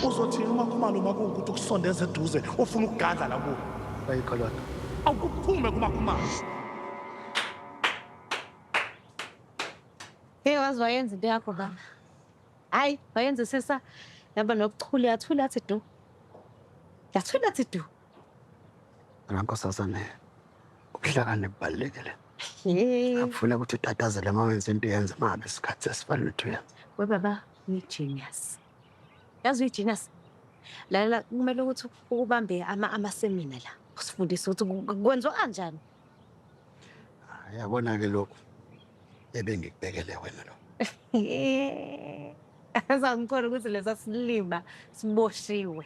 uzothini uma khumalo uma kuwukuthi ukusondeza eduze ufuna ukugadla la kuwo ayikho loo nto awukuphume kumakhumalo Hey wazi wayenza into yakho baba. Hayi wayenza sisa yaba nokuchula yathula athi du. Yathula athi du. Ngakho sasane ubuhlakani bubalulekile. Akufuna ukuthi utatazele uma wenza into yenza uma ngabe isikhathi esifanele ukuthi uyenze. We baba uyi-genius. Yazi uyi-genius. Lalela kumele ukuthi ukubambe ama amasemina la. Usifundise ukuthi ku- ku- kwenziwa kanjani. Hhayi, Yabona-ke lokhu ebengikubekele wena lo. Azangikhona ukuthi lesa silima siboshiwe.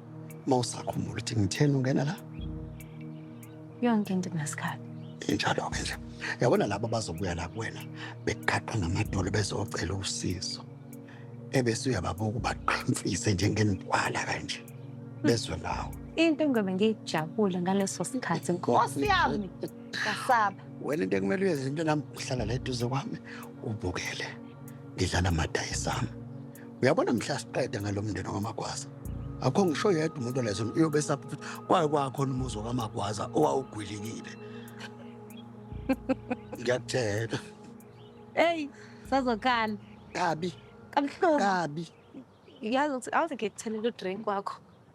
Uma usakhumbula ukuthi ngitheni ungena la? Yonke into inasikhathi. Injalo-ke nje. Yabona laba bazobuya la kuwena beqhaqha ngamadolo bezocela usizo. Ebese uyababuka ubaqhimfise njengenintwala kanje. Bezwe ngawo. Into engiyobe ngiyijabule ngaleso sikhathi Nkosi yami. Kasaba. Wena into ekumele uyenze into nami uhlala la eduze kwami ubukele. Ngidlala amadayisi ami. Uyabona mhla siqeda ngalomndeni waMagwaza. Akho ngisho yedwa umuntu olezo uyobe esapha ukuthi kwaye kwakhona umuzi waMagwaza owawugwilikile. Ngiyakutshela. Hey, sazokhala. Kabi. Kabuhlungu. Kabi. Yazi ukuthi awuze ngikuthenele udrink wakho.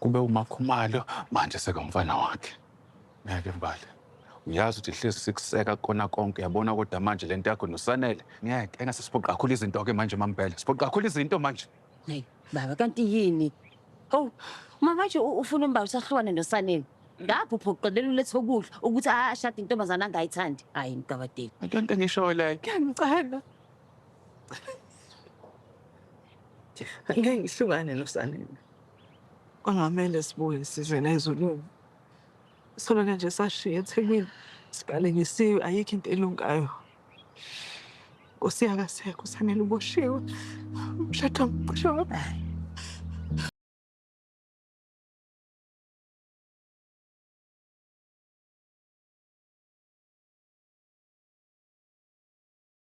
Kube umakhumalo manje sekamfana wakhe. Ngeke Mbali. Uyazi ukuthi hlezi sikuseka kukona konke uyabona kodwa manje lento yakho noSanele ngeke engase siphoqe kakhulu izinto ke manje mambhele. Siphoqe kakhulu izinto manje. Hey baba kanti yini? Oh mama nje u- ufuna umbali usahlukane noSanele. Ngapho uphoqelela ulethe ukudla ukuthi ashade intombazana angayithandi. Hayi mgabadeli. Into into engishoyo leyo. Ngiyamcela. Ngeke ngihlukane noSanele. Kwangamele sibuye size la ezulwini. Sona-ke nje sashiya eThekwini sibalekisiwe ayikho into elungayo. Nkosi yakasekho uSanele uboshiwe. Umshado ngicishe waba.